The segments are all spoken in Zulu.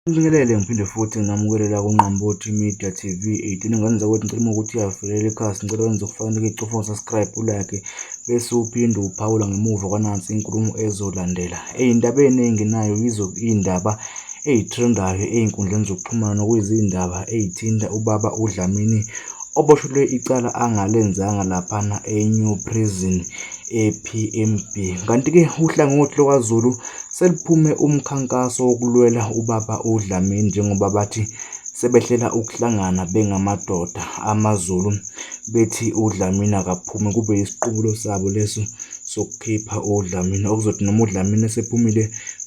Ngibingelele ngiphinde futhi nginamukele la kuNgqambothi Media TV 18 ngane zakwethu ngicela uma ukuthi uyavelela ikhasi ngicela wenze ukufanele icofa usubscribe ulike bese uphinde uphawula ngemuva kwanansi inkulumo ezolandela eyindaba eningi nayo yizo iyindaba eyitrendayo eyinkundleni zokuxhumana kuyizindaba eyithinta ubaba uDlamini oboshelwe icala angalenzanga laphana eNew Prison ePMB kanti-ke uhlangothi lokwaZulu Seliphume umkhankaso wokulwela ubaba uDlamini njengoba bathi sebehlela ukuhlangana bengamadoda amaZulu bethi uDlamini akaphume kube isiqubulo sabo leso sokukhipha uDlamini okuzothi noma uDlamini esephumile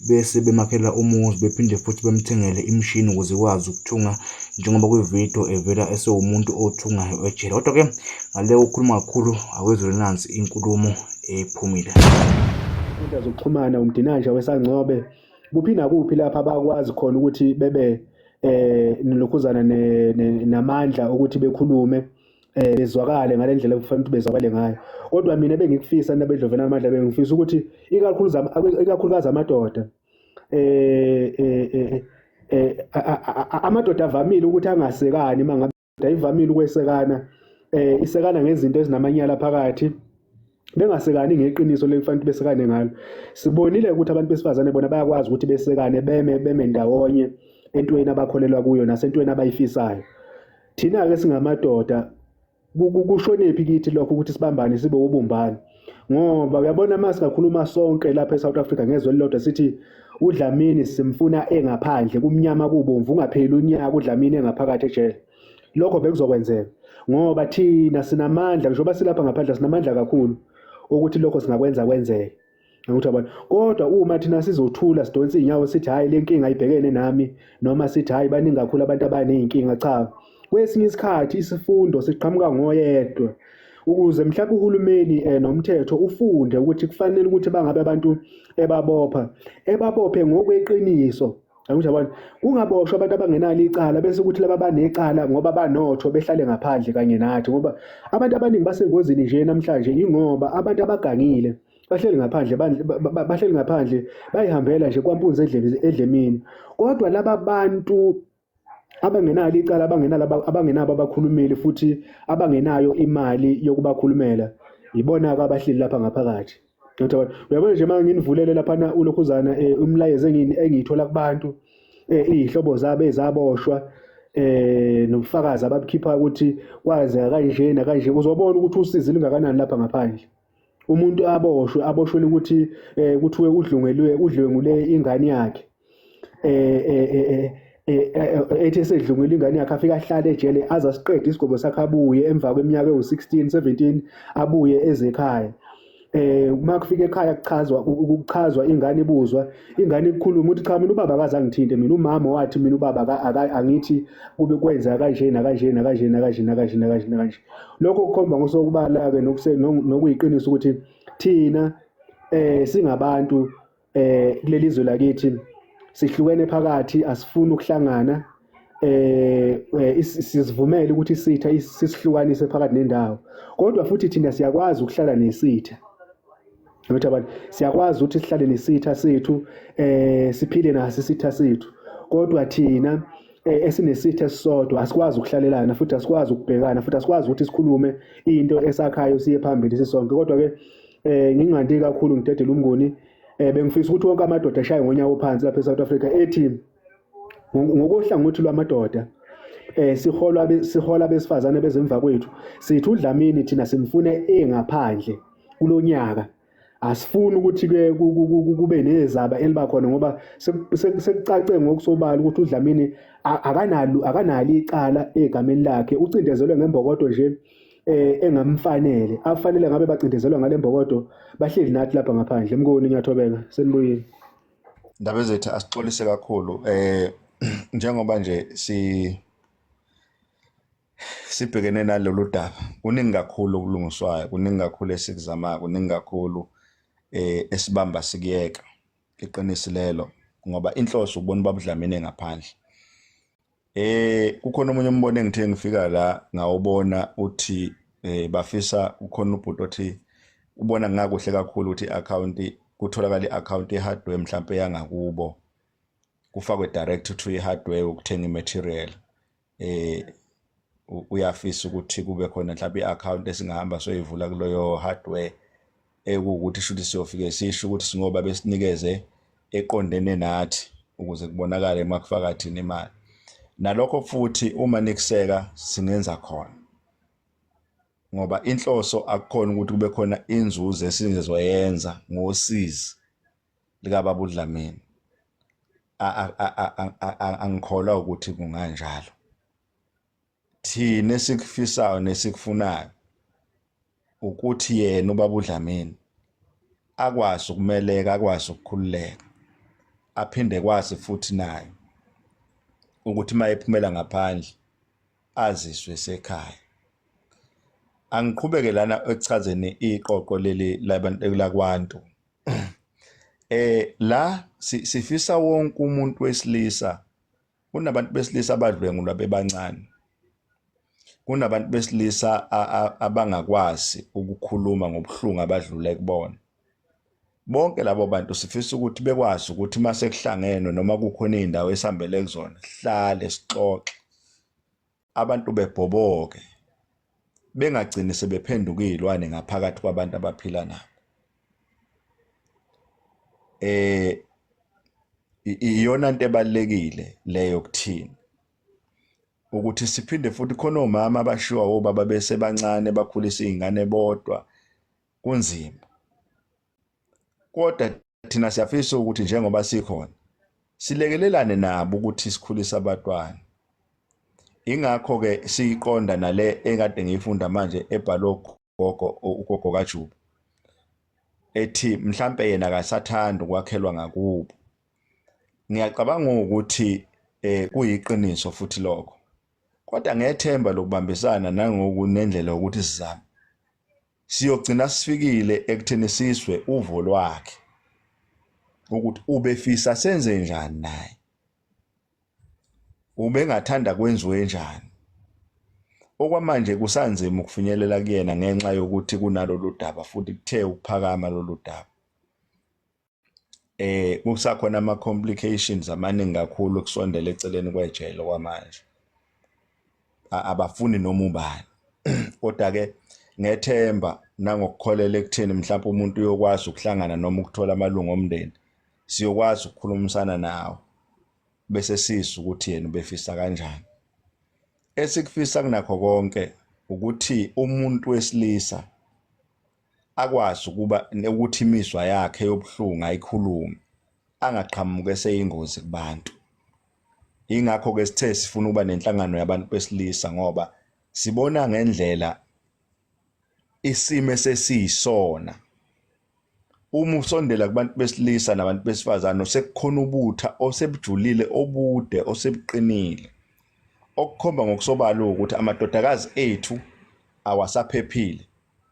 bese bemakhela umuzi bephinde futhi bemthengele imishini ukuze ikwazi ukuthunga njengoba kwividiyo evela esewumuntu othungayo ejele kodwa-ke ngale ukhuluma kakhulu akwezwelinazi inkulumo ephumile. Inkundla zokuxhumana umdinanja wesangcobe kuphi nakuphi lapha abakwazi khona ukuthi bebe eh nilokhuzana namandla ukuthi bekhulume eh bezwakale ngalendlela okufanele ukuthi bezwakale ngayo kodwa mina bengikufisa nabedlovena amandla bengifisa ukuthi ikakhulu ikakhulukazi amadoda eh eh, eh, eh, eh amadoda avamile ukuthi angasekani mangabe ayivamile ukwesekana eh isekana ngezinto ezinamanyala phakathi bengasekani ngeqiniso lekufanele besekane ngalo sibonile ukuthi abantu besifazane bona bayakwazi ukuthi besekane beme beme ndawonye entweni abakholelwa kuyo nasentweni abayifisayo thina ke singamadoda kushonephi kithi lokho ukuthi sibambane sibe ubumbane ngoba uyabona uma singakhuluma sonke lapha e-south africa ngezwe elilodwa sithi udlamini simfuna engaphandle kumnyama kubomvu ungapheli unyaka udlamini engaphakathi ejele lokho bekuzokwenzeka ngoba thina sinamandla njengoba silapha ngaphandle sinamandla kakhulu ukuthi lokho singakwenza kwenzeke Ngikuthi abantu kodwa uma thina sizothula sidonsa izinyawo sithi hayi lenkinga ibhekene nami noma sithi hayi baningi kakhulu abantu abanezinkinga cha Kwesinye isikhathi isifundo siqhamuka ngoyedwa ukuze mhlawumbe uhulumeni eh, nomthetho ufunde ukuthi kufanele ukuthi bangabe abantu ebabopha ebabophe ngokweqiniso Angisho abantu kungaboshwa abantu abangenalo icala bese ukuthi laba banecala ngoba banotho behlale ngaphandle kanye nathi ngoba abantu abaningi basengozini nje namhlanje ingoba abantu abagangile bahleli ngaphandle bahleli ngaphandle bayihambela nje kwampunzi edlemini kodwa laba bantu abangenalo icala abangenalo abangenabo abakhulumeli futhi abangenayo imali yokubakhulumela yibona-ke abahleli lapha ngaphakathi ngiyacabanga uyabona nje uma nginivulele laphana ulokhuzana um eh, umlayezo engiyithola kubantu um iy'hlobo zabo ezaboshwa eh nobufakazi ababukhipha ukuthi kwazeka kanje nakanje uzobona ukuthi usizi lingakanani lapha ngaphandle umuntu aboshwe aboshwele ukuthi eh kuthiwe udlungelwe udlwengule ingane yakhe eh eh eh, eh, eh, eh ethi esedlungile ingane yakhe afika ahlale ejele aza siqede isigobo sakhe abuye emva kweminyaka ewu16 17 abuye ezekhaya eh uma kufika ekhaya kuchazwa ukuchazwa ingane ibuzwa ingane ikhuluma ukuthi cha mina ubaba akazangithinte mina umama wathi mina ubaba angithi kube kwenza kanje na kanje na kanje na kanje na kanje na kanje lokho kukhomba ngosobala-ke nokuyiqiniso ukuthi thina eh singabantu eh kuleli zwe lakithi sihlukene phakathi asifuni ukuhlangana eh, eh sizivumele ukuthi isitha sisihlukanise phakathi nendawo kodwa futhi thina siyakwazi ukuhlala nesitha Ngithi abantu siyakwazi ukuthi sihlale nesitha sethu eh siphile naso isitha sethu kodwa thina eh, esinesitha esisodwa asikwazi ukuhlalelana futhi asikwazi ukubhekana futhi asikwazi ukuthi sikhulume into esakhayo siye phambili sisonke kodwa ke eh ngingandi kakhulu ngidedela umngoni eh bengifisa ukuthi wonke amadoda ashaye ngonyawo phansi lapha eSouth Africa ethi ngokohlangothi lwamadoda eh siholwa sihola besifazane bezemva kwethu sithi udlamini thina simfune engaphandle kulonyaka asifuni ukuthi ke kube nezaba eliba khona ngoba sekucace ngokusobala ukuthi udlamini akanalo akanalo icala egameni lakhe ucindezelwe ngembokodo nje eh engamfanele afanele ngabe bacindezelwa ngalembokodo bahleli nathi lapha ngaphandle mkoni ngiyathobeka senibuyile Ndaba ezethu asixolise kakhulu eh njengoba nje si sibhekene nalolu daba kuningi kakhulu okulungiswayo kuningi kakhulu esikuzamayo kuningi kakhulu eh esibamba sikuyeka iqiniso lelo ngoba inhloso ubona ubabudlamini ngaphandle Eh kukhona omunye umbono engithe ngifika la ngawubona uthi eh bafisa kukhona ubhuti othi ubona ngakuhle kakhulu ukuthi account kutholakala i-account ye-hardware mhlawumbe yangakubo kufakwe direct to i-hardware ukuthenga i-material eh uyafisa ukuthi kube khona mhlawumbe i-account esingahamba soyivula kuloyo hardware ekuwukuthi shuthi siyofike sisho ukuthi singoba besinikeze eqondene nathi ukuze kubonakale uma kufaka thina imali nalokho futhi uma nikuseka singenza khona ngoba inhloso akukhona ukuthi kube khona inzuzo esizoyenza ngosizi likababa uDlamini angikholwa ukuthi kunganjalo thina esikufisayo nesikufunayo ukuthi yena ubaba uDlamini akwazi ukumeleka akwazi ukukhululeka aphinde kwazi futhi naye ukuthi mayephumela ngaphandle aziswe sekhaya angiqhubeke lana ekuchazeni iqoqo leli labantu lakwantu eh la sifisa wonke umuntu wesilisa Kunabantu besilisa abadlwengulwa bebancane. Kunabantu besilisa abangakwazi ukukhuluma ngobuhlungu abadlule kubona. Bonke labo bantu sifisa ukuthi bekwazi ukuthi uma sekuhlangenwe noma kukhona iy'ndawo esihambele kuzona, sihlale sixoxe. abantu bebhoboke bengagcini sebephenduka izilwane ngaphakathi kwabantu abaphila nabo eh iyona into ebalekile leyo kuthina ukuthi siphinde futhi khona omama abashiwa obaba bese bancane bakhulisa izingane bodwa kunzima kodwa Thina siyafisa ukuthi njengoba sikhona silekelelane nabo ukuthi sikhulise abatwana. Ingakho ke siyiqonda nale ekade ngiyifunda manje ebhalwe gogo ugogo kaJuba. Ethi mhlambe yena akasathanda ukwakhelwa ngakubo. Ngiyacabanga ukuthi eh kuyiqiniso futhi lokho. Kodwa ngethemba lokubambisana nangokunendlela ukuthi sizame siyogcina sifikile ekutheni sizwe uvo lwakhe ukuthi ubefisa senze njani naye ubengathanda kwenziwe njani okwamanje kusanzima ukufinyelela kuyena ngenxa yokuthi kunalolu daba futhi kuthe ukuphakama lolu daba eh kusakhona ama complications amaningi kakhulu kusondela eceleni kwejele kwamanje abafuni noma ubani kodwa ke ngethemba nangokukholela ekutheni mhlawumbe umuntu uyokwazi ukuhlangana noma ukuthola amalungu omndeni siyokwazi ukukhulumisana nawo bese siza ukuthi yena ubefisa kanjani esikufisa kunakho konke ukuthi umuntu wesilisa akwazi ukuba ukuthi imizwa yakhe yobuhlungu ayikhulume angaqhamuki eseyingozi kubantu ingakho ke sithe sifuna ukuba nenhlangano yabantu besilisa ngoba sibona ngendlela isimo esesiyisona uma usondela kubantu besilisa nabantu besifazane osekukhona ubutha osebujulile obude osebuqinile okukhomba ngokusobala ukuthi amadodakazi ethu awasaphephile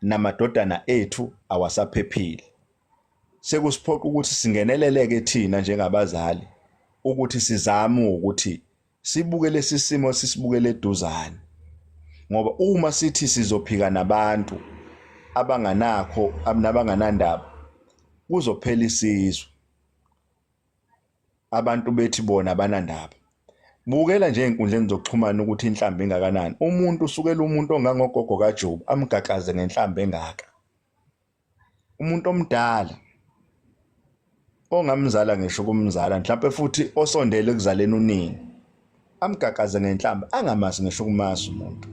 namadodana ethu awasaphephile. Sekusiphoqa ukuthi singeneleleke thina njengabazali ukuthi sizame ukuthi sibuke lesi simo sisibukele eduzane ngoba uma sithi sizophika nabantu abanganakho nabanganandaba kuzophela isizwe abantu bethi bona banandaba bukela nje ezinkundleni zokuxhumana ukuthi inhlamba engakanani umuntu usukela umuntu ongangogogo kaJobe amgaqaze ngenhlamba engaka umuntu omdala ongamzala ngisho kumzala mhlawumbe futhi osondele ekuzaleni unini amgaqaze ngenhlamba angamazi ngisho kumazi umuntu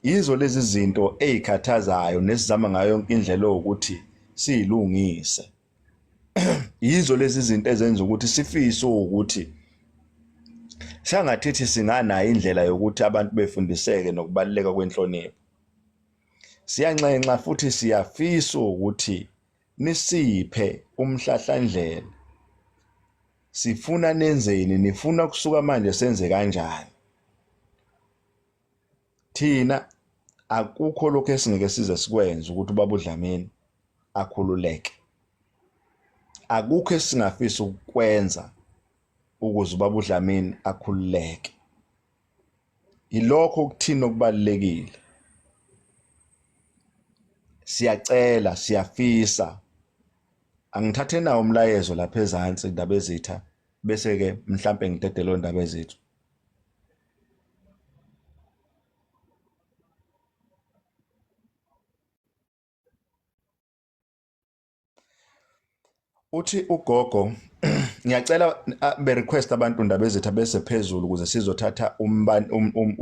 yizo lezi zinto ezikhathazayo nesizama ngayo yonke indlela ukuthi siyilungise yizo lezi zinto ezenza ukuthi sifise ukuthi sangathithi singanayo indlela yokuthi abantu befundiseke nokubaluleka kwenhlonipho siyanxenxa futhi siyafisa ukuthi nisiphe umhlahlandlela sifuna nenzeni nifuna kusuka manje senze kanjani thina akukho lokho esingeke size sikwenze ukuthi ubaba uDlamini akhululeke akukho esingafisa ukukwenza ukuze ubaba uDlamini akhululeke yilokho kuthina okubalekile siyacela siyafisa angithathe nawo umlayezo lapha ezansi indaba ezitha bese ke mhlambe ngidedelo indaba ezethu uthi ugogo ngiyacela be request abantu ndaba ezitha bese phezulu ukuze sizothatha umbani um, um,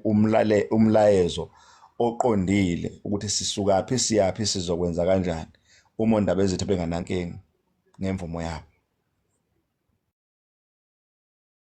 umlale umlayezo oqondile ukuthi sisuka phi siyaphi sizokwenza kanjani uma ndaba ezitha benganankingi ngemvumo yabo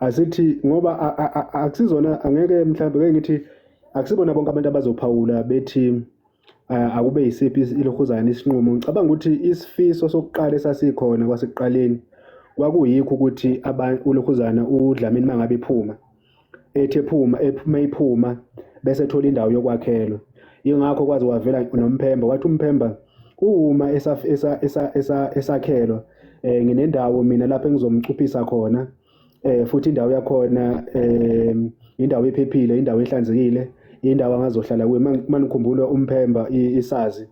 asithi ngoba akusizona angeke mhlawumbe ke ngithi akusibona bonke abantu abazophawula bethi akube yisiphi ilihuzana isinqumo ngicabanga ukuthi isifiso sokuqala esasikhona kwasekuqaleni kwakuyikho ukuthi uLukhuzana uDlamini mangabe iphuma ethi ephuma ephuma iphuma bese thola indawo yokwakhelwa ingakho kwazi wavela nomphemba wathi umphemba Uma esakhelwa um nginendawo mina lapho engizomcuphisa khona um futhi indawo yakhona um indawo ephephile, indawo ehlanzekile, indawo angazohlala kuyo. Uma nikhumbula uMphemba isazi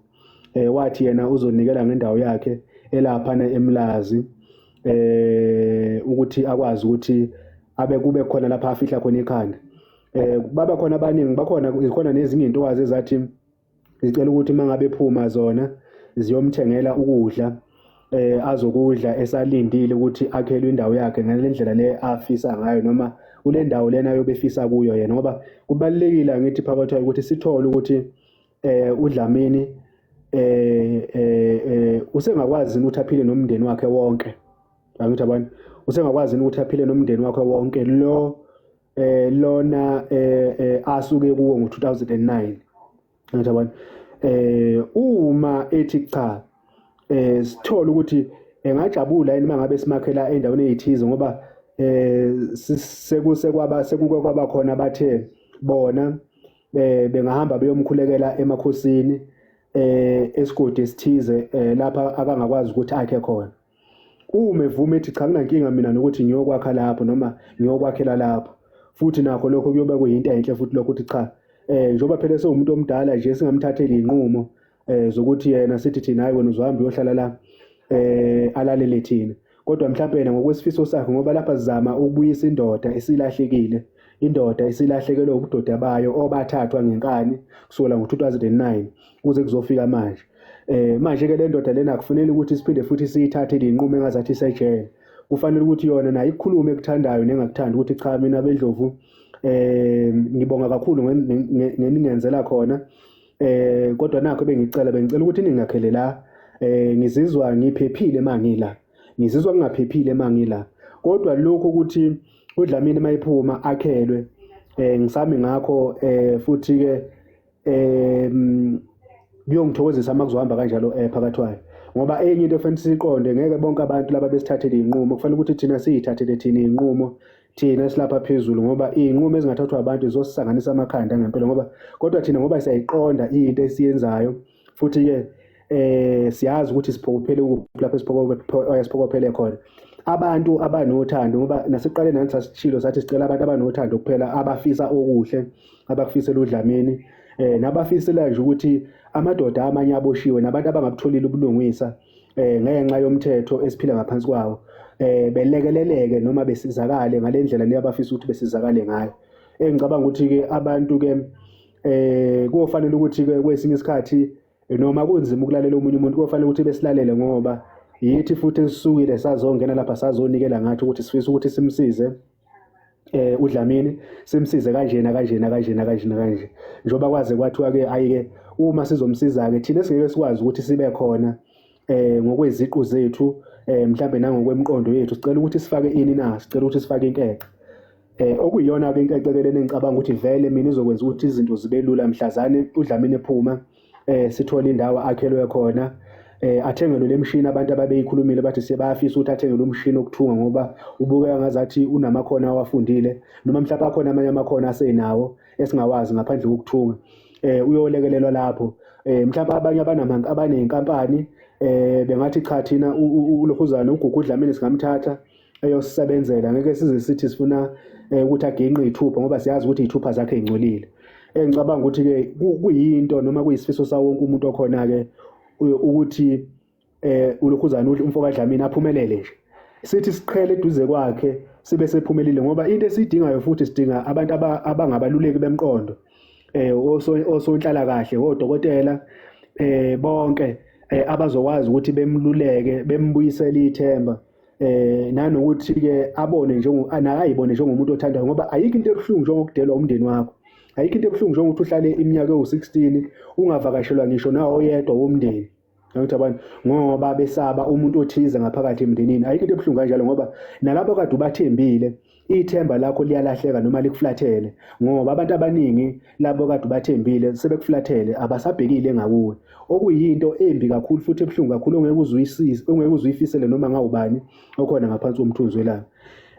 um wathi yena uzonikela ngendawo yakhe elaphana eMlazi eh ukuthi akwazi ukuthi abe kube khona lapha afihla khona ikhanda eh baba khona abaningi bakhona ikhona nezinye intokazi ezathi zicela ukuthi uma ngabe phuma zona ziyomthengela ukudla eh azokudla esalindile ukuthi akhelwe indawo yakhe ngale ndlela le afisa ngayo noma kule ndawo lena yobefisa kuyo yena ngoba kubalekile ngithi phakathi ukuthi sithole ukuthi eh uDlamini eh eh, eh usengakwazi ukuthi aphile nomndeni wakhe wonke angithi abantu usengakwazi ukuthi aphile nomndeni wakhe wonke lo eh lona eh, eh asuke kuwo ngo2009 ngiyabona eh uma ethi cha eh sithola ukuthi engajabula yini mangabe simakhela endaweni eyithize ngoba eh sekuse kwaba sekuke kwaba khona bathe bona eh bengahamba beyomkhulekela emakhosini eh esigodi esithize eh, lapha akangakwazi ukuthi akhe khona Uma evuma ethi cha kunankinga mina nokuthi ngiyokwakha lapho noma ngiyokwakhela lapho futhi nakho lokho kuyoba kuyinto enhle futhi lokho ukuthi cha eh njoba phela sewumuntu omdala nje singamthatheli inqumo eh zokuthi yena sithi thina hayi wena uzohamba uyohlala la eh alalele thina kodwa mhlawumbe yena ngokwesifiso sakhe ngoba lapha sizama ukubuyisa indoda esilahlekile indoda esilahlekelwe ubudoda bayo obathathwa ngenkani kusukela ngo-2009 kuze kuzofika manje eh manje ke le ndoda lena akufanele ukuthi siphinde futhi siyithathe linqume engazathi isejele kufanele ukuthi yona nayo ikhulume ekuthandayo nengakuthanda ukuthi cha mina bendlovu eh ngibonga kakhulu ngeningenzela khona eh kodwa nakho bengicela bengicela ukuthi ningakhele la eh ngizizwa ngiphephile mangila ngizizwa ngingaphephile mangila kodwa lokho ukuthi udlamini mayiphuma akhelwe eh ngisami ngakho eh futhi ke em kuyongithokozisa uma kuzohamba kanjalo eh phakathi wayo ngoba enye into efanele siqonde ngeke bonke abantu laba besithathele inqumo kufanele ukuthi thina siyithathele thina inqumo thina silapha phezulu ngoba inqumo ezingathathwa abantu zosisanganisa amakhanda ngempela ngoba kodwa thina ngoba siyayiqonda into esiyenzayo futhi ke eh siyazi ukuthi siphokophele ukuphi lapho siphokophele eh, khona abantu abanothando ngoba nasiqale nathi sasishilo sathi sicela abantu abanothando kuphela abafisa okuhle abakufisela udlamini eh nabafisela nje ukuthi amadoda amanye aboshiwe nabantu abangabutholile ubulungisa eh ngenxa yomthetho esiphila ngaphansi kwawo eh belekeleleke noma besizakale ngalendlela leyo abafisa ukuthi besizakale ngayo engicabanga ukuthi ke abantu ke eh kufanele ukuthi ke kwesinye isikhathi noma kunzima ukulalela omunye umuntu kofanele ukuthi besilalele ngoba yithi futhi esisukile sazongena lapha sazonikela ngathi ukuthi sifisa ukuthi simsize eh uDlamini simsize kanjena kanjena kanjena kanjena kanje njoba kwaze kwathiwa ke ayike uma sizomsiza ke thina singeke sikwazi ukuthi sibe khona eh ngokweziqu zethu eh mhlambe nangokwemqondo yethu sicela ukuthi sifake ini na sicela ukuthi sifake inkece Eh okuyiyona ke into ecekelene ngicabanga ukuthi vele mina izokwenza ukuthi izinto zibe lula mhlazane uDlamini ephuma eh sithola indawo akhelwe khona eh athengelwe lemshini abantu ababeyikhulumile bathi sebafisa ukuthi athengelwe umshini okuthunga ngoba ubukeka ngazathi unamakhono awafundile noma mhlawumbe akhona amanye amakhono asenawo esingawazi ngaphandle kokuthunga eh uyolekelelwa lapho eh mhlawumbe abanye abanamanga abanenkampani eh bengathi cha thina uLokhuzana uGugu uDlamini singamthatha eyosisebenzela ngeke size sithi sifuna eh, ukuthi aginqe ithupha ngoba siyazi ukuthi ithupha zakhe ingcolile engicabanga ukuthi ke kuyinto noma kuyisifiso sawo wonke umuntu okhona ke ukuthi eh ulokhuzana umfo kaDlamini aphumelele nje sithi siqhele eduze kwakhe sibe sephumelile ngoba into esidingayo futhi sidinga abantu abangabaluleki bemqondo eh osonhlala kahle odokotela eh bonke eh, abazokwazi ukuthi bemluleke bembuyisele ithemba eh nanokuthi ke abone njengo anakayibone njengomuntu othandayo ngoba ayikho into ebuhlungu njengokudelwa umndeni wakho ayikho into ebuhlungu njengokuthi uhlale iminyaka ewu-16 ungavakashelwa ngisho nawo oyedwa womndeni ukuthi abantu ngoba besaba umuntu othize ngaphakathi emndenini ayikho into ebuhlungu kanjalo ngoba nalabo kade ubathembile ithemba lakho liyalahleka noma likuflathele ngoba abantu abaningi labo kade ubathembile sebekuflathele abasabhekile ngakuwe okuyinto embi kakhulu futhi ebuhlungu kakhulu ongeke uzuyisise ongeke uzuyifisele noma ngawubani okhona ngaphansi komthunzi welanga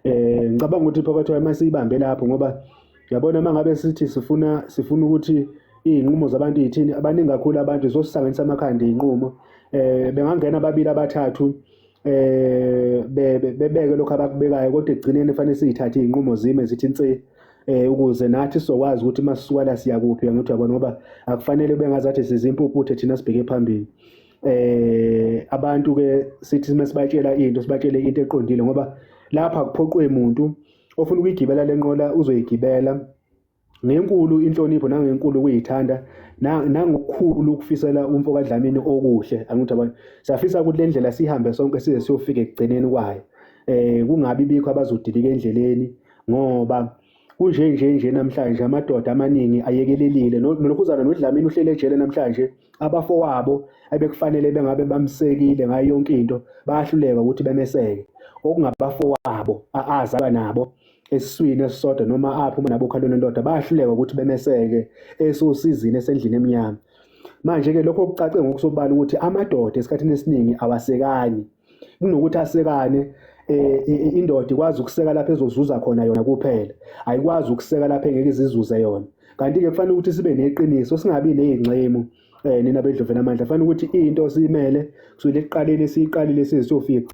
eh ngicabanga ukuthi phakathi kwayo masiyibambe lapho ngoba yabona mangabe sithi sifuna sifuna ukuthi izinqumo zabantu yithini abaningi kakhulu abantu zosihlanganisa amakhanda izinqumo eh bengangena ababili abathathu eh bebeke lokho abakubekayo kodwa ekugcineni fanele siyithathe izinqumo zime zithi insi eh ukuze nathi sizokwazi ukuthi masisuka la siya kuphi ngithi yabona ngoba akufanele bengazathi sizimpuputhe thina sibheke phambili eh abantu ke sithi mesibatshela into sibatshele into eqondile ngoba lapha kuphoqwe umuntu ofuna ukuyigibela lenqola uzoyigibela ngenkulu inhlonipho nangenkulu ukuyithanda nangokukhulu ukufisela umfo kaDlamini okuhle angithi abantu siyafisa ukuthi le ndlela sihambe sonke size siyofika ekugcineni kwayo eh kungabi bikho abazodilika endleleni ngoba kunje nje nje namhlanje amadoda amaningi ayekelelile nokhuzana nodlamini uhlele ejele namhlanje abafowabo ebekufanele bengabe bamsekile ngayo yonke into bayahluleka ukuthi bemeseke okungabafowabo azalwa nabo esiswini esisodwa noma apho uma nabokhalweni lodwa bayahluleka ukuthi bemeseke esosizini esendlini emnyama manje-ke lokho kucace ngokusobala ukuthi amadoda esikhathini esiningi awasekani kunokuthi asekane Eh, indoda ikwazi ukuseka lapho ezozuza khona yona kuphela ayikwazi ukuseka lapho engeke izizuze yona kanti-ke kufanele ukuthi sibe neqiniso singabi ney'nxemu eh nina bedlovela amandla fanele ukuthi into simele kusukela ekuqaleni siyiqalile sizofika